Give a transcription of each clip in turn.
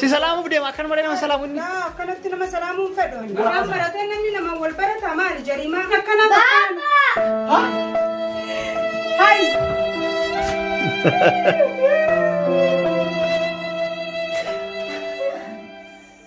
Si salaamuuf deema akkan malee nama salaamu inni. Yaa akkanatti nama salaamuu hin fedhu. Waan baratee namni namaan wal barata maali jarimaa akkana Baaba!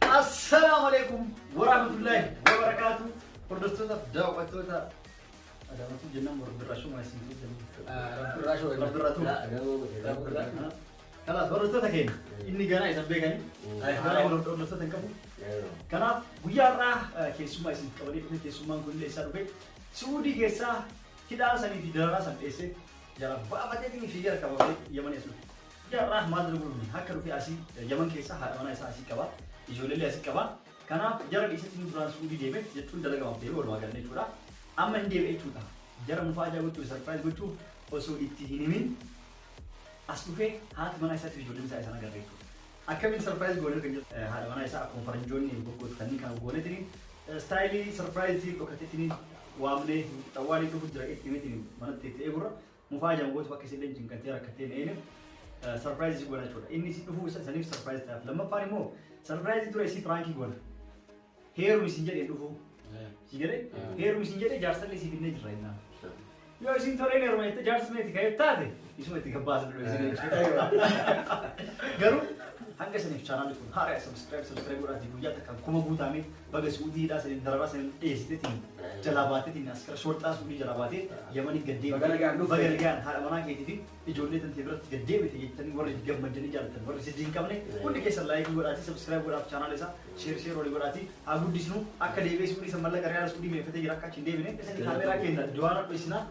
Assalaamu alaikum warahmatullahi wabarakatuh. Hordoftoota daawwattoota Adaamatuu jennaan Rabbirraa shuma isin Rabbirraa shuma Rabbirraa tu. Rabbirraa. Kanaaf hordoftoota keenya inni ganaa isan beekani. Ayyaana hordoftoota hin qabu. Kanaaf guyyaa irraa keessummaa isin qabanii dhufe keessummaan kun illee isaa dhufe Suudii keessaa hidhaa sanii fi dararaa san dheessee jara baafatee fi fiigee harka baafee yamanii as dhufe. Yaa Rah maal dura gurgurni harka dhufee asii yaman keessaa haadha manaa isaa asii qaba ijoollee asii qaba kanaaf jara dhiisatti inni duraan suudii deeme jechuun dalagamaaf deeme walumaa gallee jechuudha amma inni deebi'e jechuudha jara mufaa ajaa gochuuf sarpiraayiz gochuuf osoo itti hin himin as dhufee haati manaa isaatiif ijoolleen isaa isaan agarra jechuudha akkamiin sarpiraayiz goonee kan jedhu haadha manaa isaa akkuma faranjoonni goggootu kanneen kan goonetiin istaayilii sarpiraayizii dhokatee waamnee xawwaalii dhufu jira itti mitiin manatti itti eegurra Mufaajaan gootu akka isilleen cinqattee rakkattee meemeef sarpiraayiz isii goona jechuudha. Inni isii dhufuu isa saniif sarpiraayiz ta'aaf. Lammaffaan immoo sarpiraayiz dura isii piraankii goona. Heerumi isin jedhee dhufuu. Si jedhee heerumi isin jedhee jaarsallee isii finnee jirra innaa. Yoo isin toleen heeruma jette jaarsi meeti ka'ee taate isuma itti gabbaasa dura isin jechuudha. Garuu hanga isiniif chaanaalli kun haara subscribe subscribe godhaati guyyaa takkaan kuma guutaamee Baga suudii hidhaa saniin dararaa saniin dheessitetiin jalaa baatetiin askara shorxaa suudii jalaa baatee yamanii gad deemte. Baga nagaan dhufte. Baga nagaan haadha manaa keetii fi ijoollee tantee biratti gad deemte jettanii warri gammaddanii jaallattan warri sijjii hin qabne hundi keessan laayikii godhaatii sabskiraayib godhaaf chaanaala isaa sheer sheer olii godhaatii haa guddisnu akka deebi'ee suudii san mallaqa riyaala suudii meeffatee jira akka achi hin deebine isin kaameeraa keenya duwaana dho'isinaa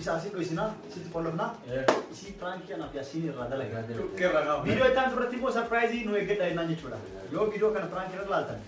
isa asii dho'isinaa sitti qollofnaa isii piraankii anaaf yaasiin irraa dalagaa Irraa kaafne. Viidiyoo itti aantu irratti immoo sarpiraayizii nu eeggadha jennaan jechuudha. Yoo viidiyoo kana piraankii irra laaltan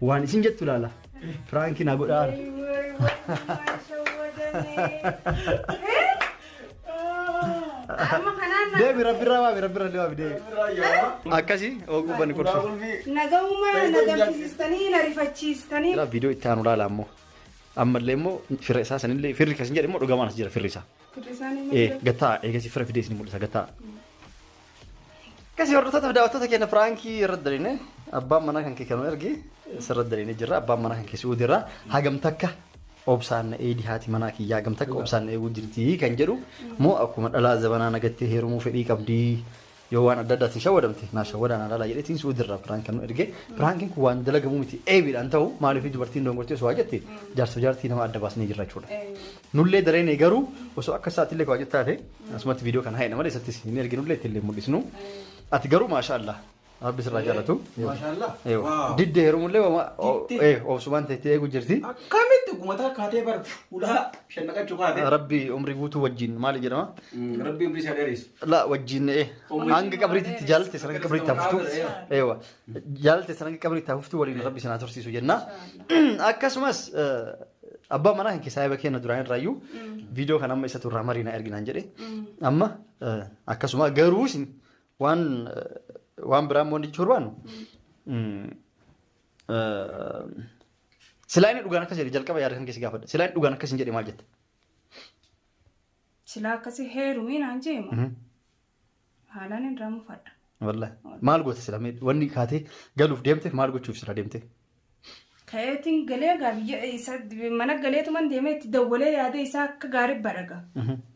Waan isin jettu laala. Piraanki na godhaa. Amma kanaan na- Deebi rabbirraa waabi rabbirraa illee waabi deebi. Akkasi oguu banni gorsu. nagahuma na gamsisiistanii na rifachiistanii. Jira viidiyoo itti aanu laala ammoo. Ammallee immoo firra isaa sanillee firri kasin jedhe immoo dhugamaan as jira firri isaa. Firri isaanii Eh, malee. gattaa eegasii firra fidee isin mul'isa gattaa. Akkasii hordoftoota fi daawwattoota keenya piraankii irratti dariine abbaan manaa kan kee kan nu erge sirratti dariine jirra abbaan manaa kan kee su'uudi irraa hagam takka obsaan na eedi haati manaa kiyyaa hagam takka obsaan na eeguu jirti kan jedhu moo akkuma dhalaa zabanaa nagattee heerumuu fedhii qabdi yoo waan adda addaatiin shawwadamte naa shawwadaan alaalaa jedhetiin su'uudi irraa piraank kan nu erge piraankiin kun waan dalagamuu miti eebiidhaan ta'u maaliif dubartiin dongortee osoo haa jette jaarsa jaartii nama adda baasnee jirra jechuudha. Nullee dareene garuu osoo akka isaa atillee kabaajat taate asumatti viidiyoo kana haa'ina malee isattis hin erginullee ittillee hin mul'isnu. Ati garuu maashaa Allah rabbi sirraa jaalatu. Maashaa Allah. Eewa. Waaw. Didde heerumullee wama Didde. ee, obsumaan teettee eegu jirti. Akkamitti gumataa kaatee bar ulaa shan naqachuu kaatee. Rabbi umrii guutuu wajjin maali jedhama? Rabbi umrii isaa dheereessu. La wajjin ee, Umrii hanga isaa qabriitti dheereessu. jaallatte sana hanga qabriitti haftu. Qabriitti Eewa. Jaallatte sana hanga qabriitti haftu waliin rabbi sana tursiisu jenna. Akkasumas eh, Abbaan manaa kee saahiba keenya duraan irraa iyyuu viidiyoo kana amma isatu irraa marii na ergi naan jedhe. Amma eh, akkasuma garuu isin waan eh, waan biraa immoo jechuu barbaannu. mm, eh, Silaa inni dhugaan akkas jedhe jalqaba yaada kan keessi gaafadha. Silaa inni dhugaan akkas hin jedhe maal jette? Silaa akkasii heerumii naan jeema. Haalaan irraa mufadha. Wallahi. Maal goota sila mee wanni kaatee galuuf deemte maal gochuuf sila deemte? Ka'eetiin galee egaa biyya isa mana galeetuman deemee itti dawwalee yaadee isaa akka gaarii badhaga.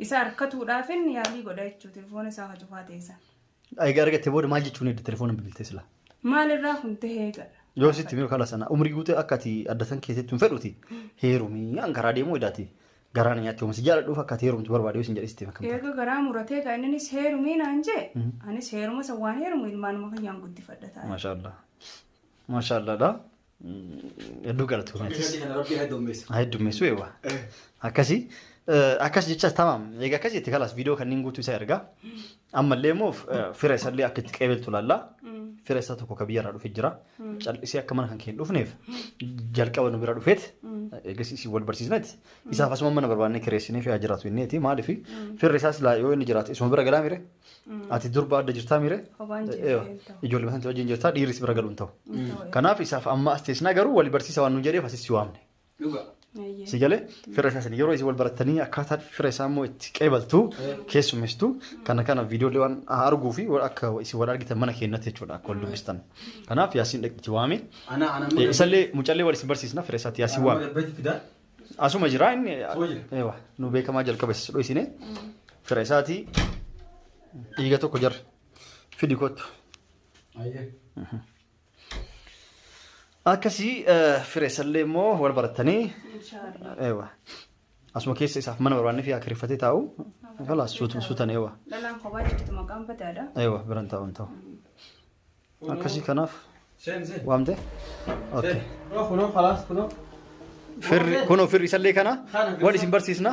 Isa harkatuudhaafin yaalii godha jechuudha telefoona isaa kan cufaa ta'e sana. Egaa argatte booda maal jechuun edda telefoona bilbiltee sila? Maalirraa kun ta'ee egaa. Yoo sitti miru kala sana umrii guutee akka ati addatan keessatti hin fedhuti heerumii an karaa deemuu edaati Garaa na nyaachuu si jaaladhuuf akka ati heerumtu barbaade yoo sin jedhe sitti makamta. Eega garaa muratee gaa inninis heerumii naan jee anis heeruma san waan heerumu ilmaanuma kiyyaan guddifadha taa'e. Maashaallah. Maashaallah dha. Hedduu galatoomeetis. Akkasii kana rabbi heddummeessa. Haa heddummeessu eewwa. Akkasii. Akkas jecha tamaam. Egaa akkas jette kalaas viidiyoo kanneen guutuu isaa ergaa. Ammallee immoo f- eh, fira isallee akka itti qeebeltu laalla. Fira isaa tokko ka biyyarraa dhufe jira. Cal'isee akka mana kan kee hin dhufneef jalqaba nu bira dhufeet eegas isin wal barsiisneeti. Isaaf asuma mana barbaannee kireessinee fi haa jiraatu inneeti maaliif firri isaas laa yoo inni jiraate isuma bira galaa mire ati durba adda jirtaa mire Hobaan jirtu Eewa, hin ta'u. ijoollee mataan wajjin jirtaa dhiirris bira galu hin ta'u. Kanaaf isaaf amma as teessinaa garuu wal barsiisa waan nu jedheef asis si waamne. Dhuga. Ayyee. Si galee fira isaa sanii yeroo isin wal barattanii akkaataa fira isaa immoo itti qeebaltu keessummeessitu kana kana viidiyoolee waan arguu fi waan akka isin wal argitan mana keenyatti jechuudha akka wal dubbistan. Kanaaf yaasiin dhaqxi waame. Ana ana amma Eh, Isallee mucallee wal isin barsiisna fira isaatti yaasiin waame. gabbeetti fidaa. Asuma jira inni Asuma jira. eewa nu beekamaa jalqaba isa dhoysine fira isaati dhiiga tokko jarra fidi kottu. Ayyee. Akkasii fireessallee immoo wal barattanii Inshallah. eewa asuma keessa isaaf mana barbaannee fi akkiriffatee taa'u kalaas suutu- suutan eewa Dhalaan kophaa jirtu maqaan badaadha. eewa biran taa'u hin ta'u akkasii kanaaf Sen sen. waamte okay. Sen. Kunoo kunoo kalaas kunoo. firri kunoo firri isallee kana wal isin barsiisna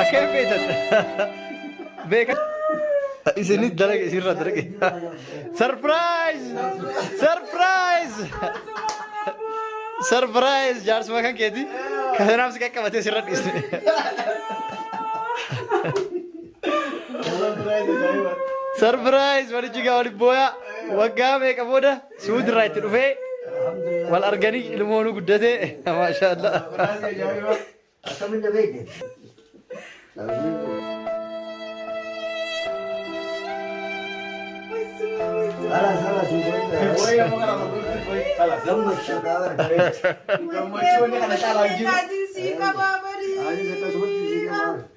Akkam beektan? Beekan. Isinis dalaga isinirraa dalage. Sarpiraayiz! Sarpiraayiz! Sarpiraayiz jaarsuma kan keeti. Kasanaaf si qaqqabatee sirra dhiisne. Sarpiraayiz walichi gaa waliin booyaa waggaa meeqa booda suuti irraa itti dhufee wal arganii ilmoonuu guddatee maashaa Allah. Akkamitti beekte? Halas halas hin godhine. Gammachuu qaba. Gammachuun kana caalaa hin jiru. Ani akkasumatti si qaba.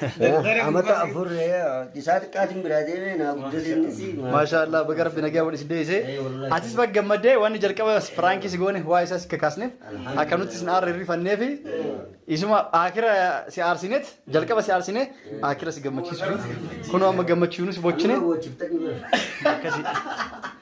Daldala Amata gubate. afur isaa xiqqaatiin biraa deemee naa guddatinnis. Maashaallah baga rabbi nagaa wal isin deebise. Ee, wallahi. Atis baga gammadde wanni jalqaba piraanki si goone waa isaas akka kaasneef akka nuti isin aarre hirrifannee fi isuma akira si aarsineet jalqaba si aarsinee akira si gammachiisuuf kunoo amma gammachiisuunis bochine Amma bochiftanii bara. akkasi.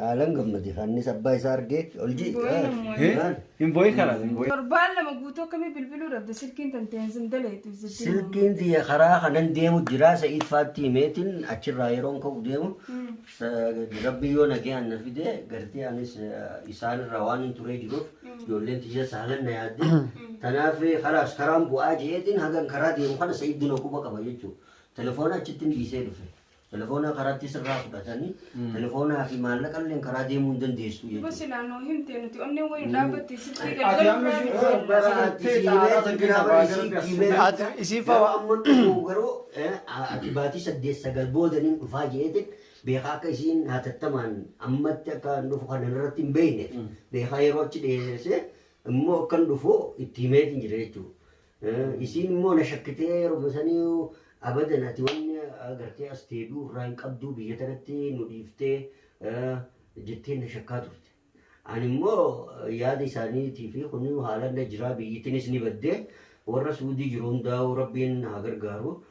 Haalan gammade. Hannis abbaa isaa argee ol ji'i. Boo'ina immoo. Hee? Maal? Hin boo'in kana. Hin boo'in. Torbaan lama guutuu akkamii bilbiluu dhabde silkiin tantee hin daleetu ibsitti. Silkiin tiyya karaa kanan deemu jira sa'iid faattii meetiin achirraa yeroon ka'u deemu sa- rabbi yoo nagaan na fide gartee anis eh, isaanirraa waan hin turee jiruuf ijoolleen tiyya saalan na yaadde tanaaf eh, karaas karaan bu'aa jeetiin hagan karaa deemu kana sa'iid dina quba qaba jechuudha telefoona achitti hin dhiisee dhufe Telefoona karaatti sirraa fudhatanii telefoonaa fi maallaqa illee karaa deemuu hin dandeessu Duba jechuudha. silaa nuu himtee nuti onneen wayii nu dhaabbatte sittii Ati galgaluu amma irraa ishee- miti. Bara ati si himee si biraa bara si himee. Ati isiin Garuu fa'a. amma dhufu garuu eh, ati baatii saddeet sagal booda nin dhufaa jeete beekaa akka isiin hatattamaan ammatti akka hin dhufu kan irratti hin beekne beekaa yeroo achi dheeresse immoo akka hin dhufu itti himeetiin jira jechuudha. Isiin immoo na shakkitee yeruma saniyu abadan ati wanni agartee as deebi'uu irraa hin qabduu biyya tanatti nu dhiiftee jettee na shakkaa turte. Ani immoo yaada isaaniitii fi kunuu haalaan na jiraa biyyittinis ni baddee warra suudii jiru hundaa'uu rabbiin haa gargaaru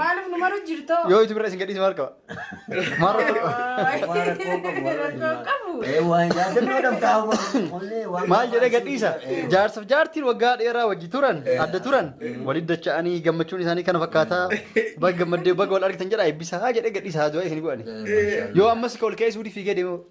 Maalif nu maru jirtoo? Yoo itti bira isin gadhiise maal qaba? Maal rakkoo qabu? Maal jedhee gadhiisa? Jaarsaaf jaartiin waggaa dheeraa wajji turan adda turan waliin dacha'anii gammachuun isaanii kana fakkaataa baga gammaddee baga wal argitan jedha eebbisaa jedhee gadhiisa haa du'aa isin godhani. Yoo ammas ol ka'ee suudii fiigee deemu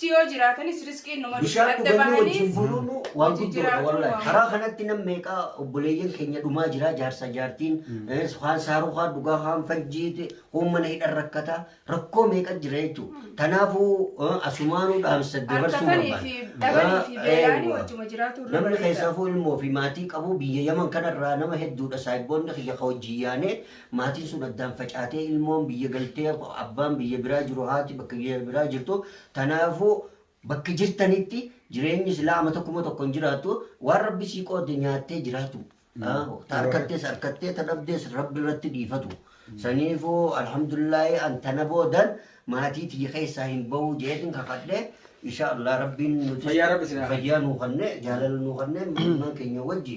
tti yoo jiraatanis risqiin numa dhufti Bishaan adda dhuganii bahaniis wajjin buluun waan wajji guddoodha jiraatuun wallahi. waan Karaa kanatti nam meeqaa obboleeyyan keenya dhumaa jira jaarsa jaartiin eh, kaan saaruu kaan dhugaa kaan fajjiiti kuun mana hidhan rakkata rakkoo meeqa jira jechuudha. Tanaafuu eh, asumaanuu dhaamsa dabarsuu harkatanii fi dhabanii fi beelaanii Eewwa. wajjuma jiraatuun irra Namni bareeda. keessafuu ilmoo fi maatii qabu biyya Yaman kanarraa nama hedduudha saayibboonni kiyya ka hojii yaanee Maatiin sun addaan facaatee ilmoon biyya galtee abbaan biyya biraa jiru haati bakka biyya biraa jirtu tanaafuu bakka jirtanitti jireenyi silaa amata kuma tokko hin jiraattu waan rabbi sii qoode nyaattee jiraatu Ah, ta harkattees harkattee ta dhabdees rabbi irratti dhiifatu saniifuu alhamdulillaahi an tana boodan maatii tiyya keessaa hin bahuu jeetin kakadhe insha allah rabbiin nutis Fayyaa rabbi sinaa kennu. fayyaa nuu kanne jaalala nuu kanne ilmaan keenya wajji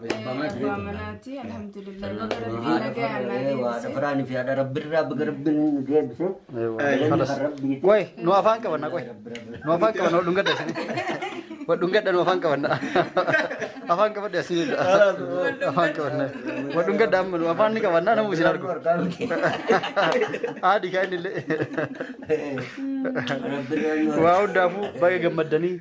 Abbaa manaati alhamdulillah baga rabbiin haadha nagaan naa farree waadha deebise. faraan fi haadha rabbirraa baga rabbiin nu deebise. Kalas. Rabbiiti. Qoy, nu afaan qabanna qoy. Nu afaan qabanna wal dhungadha isin. Wal dhungadha nu afaan qabanna. Afaan qabadha isin jedha. Afaan qabanna. Wal dhungadha amma nu afaan ni qabanna namu isin argu. Haadhi kaa inni illee. Waa hundaafuu baga gammaddanii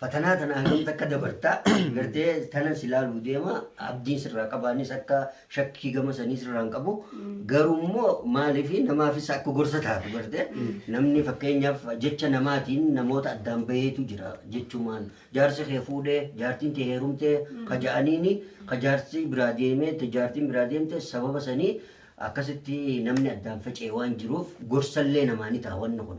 Fatanaa tana hangamitti akka dabarta gartee tana si laaluu deema abdiin sirraa qabaanis akka shakkii gama sanii sirraa hin qabu garuu immoo maaliif namaafis akka gorsa taatu gartee namni fakkeenyaaf jecha namaatiin namoota addaan baheetu jira jechumaan jaarsi kee fuudhee jaartiin tee heerumtee ka ja'aniini ka jaarsi biraa deemee te jaartiin biraa deemte sababa sanii akkasitti namni addaan faca'e waan jiruuf gorsallee namaa ni ta'a wanni kun.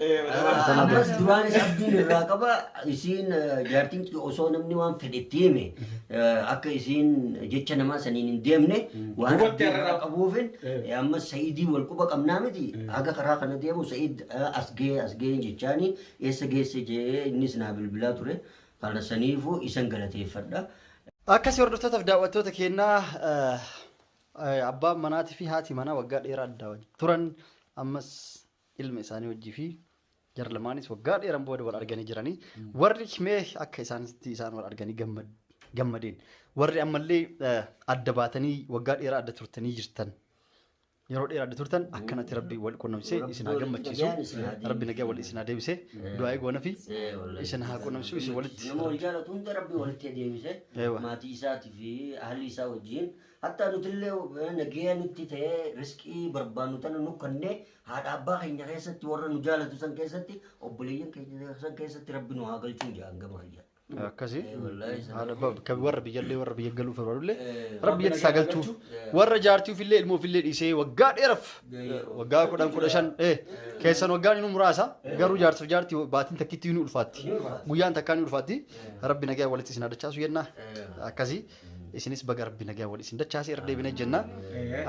Ammas duraanis abdiin irraa qaba isiin jaartiin kiyya osoo namni waan fedhe itti hime akka isiin jecha namaa saniin hin deemne waan Hubatte abdii irraa irraa. qabuufin Eh. ammas sa'idii wal quba qabnaa miti haga karaa kana deemu sa'id as gee as gee jechaani eessa geesse jee innis naa bilbilaa ture kana saniifuu isan galateeffadha. Akkasii hordoftootaaf daawwattoota keenyaa eh, eh, abbaan manaatii fi haati manaa waggaa dheeraa adda wajjin turan ammas ilma isaanii wajjii fi jara lamaanis waggaa dheeran booda wal arganii jiranii warri mee akka isaanitti isaan wal arganii gammad- gammadeen warri ammallee eh, adda baatanii waggaa dheeraa adda turtanii jirtan yeroo dheeraa adda turtan akkanatti rabbi wal qunnamsee Rabbi isin haa walitti gammachiisu nagaan isin haa rabbi nagaa wal isin haa deebisee du'aa'ee goona fi Eh, wallahi. isin haa qunnamsu isin walitti Nama wal jaalatu hunda rabbi walitti deebise Eewa. maatii isaatii fi ahli isaa wajjin Hattaa nutillee nageeya nutti ta'ee risqii barbaannu tana nu kannee haadha abbaa keenya keessatti warra nu jaalatu san keessatti obboleeyyan keenya san keessatti rabbi nu haa galchuun jedhan gama kiyya. akkasi Eh, wallahi sana haadha abbaa kan warra biyyallee warra biyya galuuf barbaadullee Eh, rabbi rabbi itti isaa nagaa galchuu galchu. Eh. warra jaartii ofillee ilmoo ofillee dhiisee waggaa dheeraf Gahee qabu. waggaa kudhan kudha shan eh, keessan waggaan inni muraasa garuu jaartiif jaartii baatiin takkitti ni ulfaatti Ni ulfaatti. guyyaan takkaa ni ulfaatti rabbi nagaa walitti isin adachaasu jennaa Eh. akkasii isinis baga rabbi nagaa wal isin dachaasee irra deebinee jenna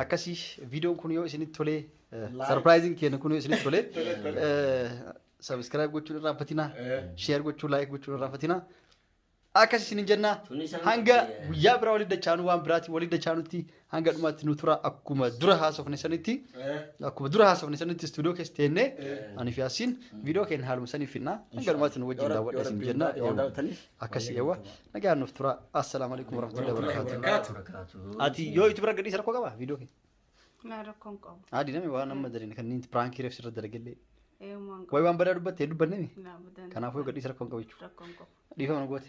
akkasii viidiyoon kun yoo isinitti tolee sarpiraayiziin keenya kun yoo isinitti tolee sabiskiraayib gochuun irraa fatinaa sheer gochuun laayik gochuun irraa fatinaa akkasii isinin jenna hanga guyyaa biraa waliin dachaanu waan biraatiin waliin dachaanutti hanga dhumaatti nu tura akkuma dura haasofne sanitti akkuma dura haasofne sanitti istuudiyoo keessa teennee ani fi asiin viidiyoo keenya haaluma saniif finnaa hanga dhumaatti nu wajjin daawwadha isin jenna akkasi eewwa nagaan nuuf tura assalaamu alaikum warahmatullahi wabarakatuh ati yoo itti bira gadhiisa rakkoo qaba viidiyoo keenya Naa rakkoon qabu. adi nami waan amma dalin kan inni piraankii reefsi irra dalagallee Eeyyumaan qabu. way waan badaa dubbatte dubbannemi Naa budan. kanaafuu gadhiisa rakkoon qabu jechuudha Rakkoon qabu. dhiifama nu goote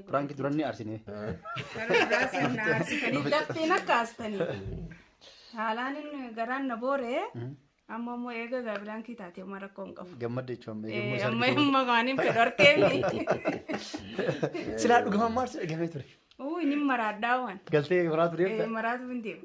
Piraanki duran ni arsine. Dafteen akka aastanii. Haalaan inni garaan na boore. Amma immoo eega gaabiraankii taate amma rakkoo hin qabu. Gammadde jechuun amma eegamuu isaa Amma argite. amma kaaniin fedhu arkeemi. Silaa dhugaman maarsi dhagamee ture. Uu inni maraadhaa waan. Galtee maraa ture. Maraatu hin deemu.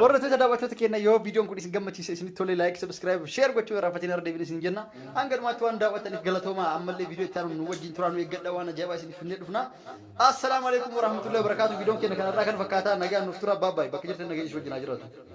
Hordoftoota daawwattoota keenya yoo viidiyoon kun isin gammachiise isinitti tole laayik sabiskiraayib sheer gochuu irraa fatiin irra deebiin isin jenna. Hanga dhumaatti waan daawwattaniif galatoomaa ammallee viidiyoo itti aanu nu wajjin turaa nu eeggadha waan ajaa'ibaa isiniif finnee dhufna. Assalaamu alaikum warahmatullahi wabarakaatu viidiyoon keenya kanarraa kan fakkaataa nagaan nuuf tura baabbaay bakka jirtan nageenya isin wajjin haa jiraatu.